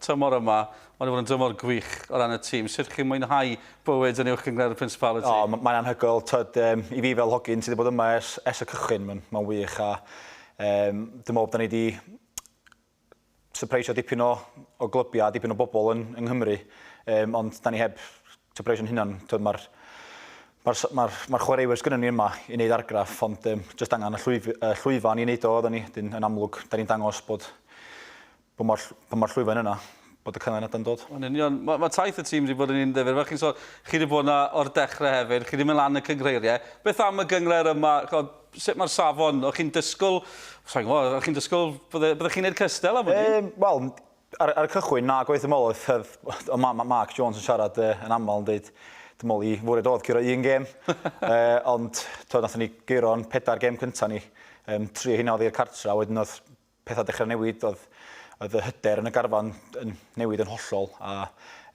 tymor yma, mae 'di bod yn dymor gwych o ran y tîm. Sut chi'n mwynhau bywyd yn Uwch Gynghrair y Principality? O, mae'n anhygoel. Tibod, um, i fi fel hogyn sydd wedi bod yma ers, ers y cychwyn, mae'n ma wych. A um, dwi'n meddwl bod ni wedi sypreisio dipyn o, o glybiau, dipyn o bobl yn, yng Nghymru. Um, ond da ni heb sypreisio'n hynna'n, mae'r Mae'r ma ma chwaraewyr sgynnon ni yma i wneud argraff, ond um, jyst angen y llwyf, uh, llwyfan i wneud o, oedden ni, dyn, yn amlwg, da ni'n dangos bod Pa mor ll- pa mor llwyfan yna bod y canlyniadau'n dod? Yn union. Ma' ma' taith y tîm 'di bod yn un ddifyr. Fel chi'n sôn, chi 'di bod 'na o'r dechrau hefyd, chi 'di mynd lan y cynghreiriau. Beth am y gyngred yma? Ch'od, sut mae'r safon? O'ch chi'n disgwyl, sa i'n gwybod, o'ch chi'n disgwyl bydde- byddech chi'n neud cystal am wn i? Yym, wel, ar ar y cychwyn, na, gobeithio ddim ôl oedd oedd o ma' ma' Mark Jones yn siarad yy yn aml yn deud dwi'n meddwl i fwriad oedd curo un gêm. yy ond t'od nathon ni gyro'n pedair gêm cynta' ni. Yym tri o heina oedd i'r cartra, wedyn oedd Pethau dechrau newid, oedd oedd y hyder yn y garfan yn newid yn hollol a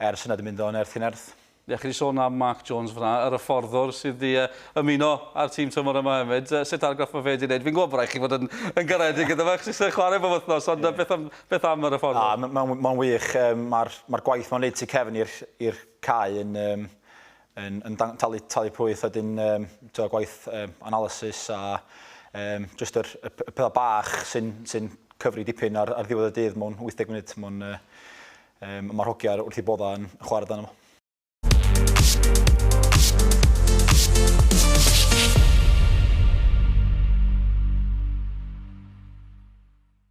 ers yna dwi'n mynd o nerth i nerth. Ie, chi wedi sôn am Mark Jones fan'na, yr hyfforddwr sydd wedi uh, ymuno â'r tîm tymor yma hefyd. Uh, sut argraff mae fe wedi gwneud? Fi'n gwybod bod rhaid chi fod yn, yn garedig gyda fe, chos eisiau chwarae bob wythnos, ond yeah. beth, am, beth am yr hyfforddwr? Ah, Mae'n ma, ma wych, um, mae'r ma gwaith mae'n gwneud tu cefn i'r cae yn, um, yn yn talu talu pwyth a wedyn yym t'wod gwaith yym analysis a yym jyst yr y y petha bach sy'n sy'n cyfri dipyn ar ar ddiwedd y dydd mewn 80 munud ma'n yy yym ma'r hogia wrth 'u bodda yn chware amdano fo.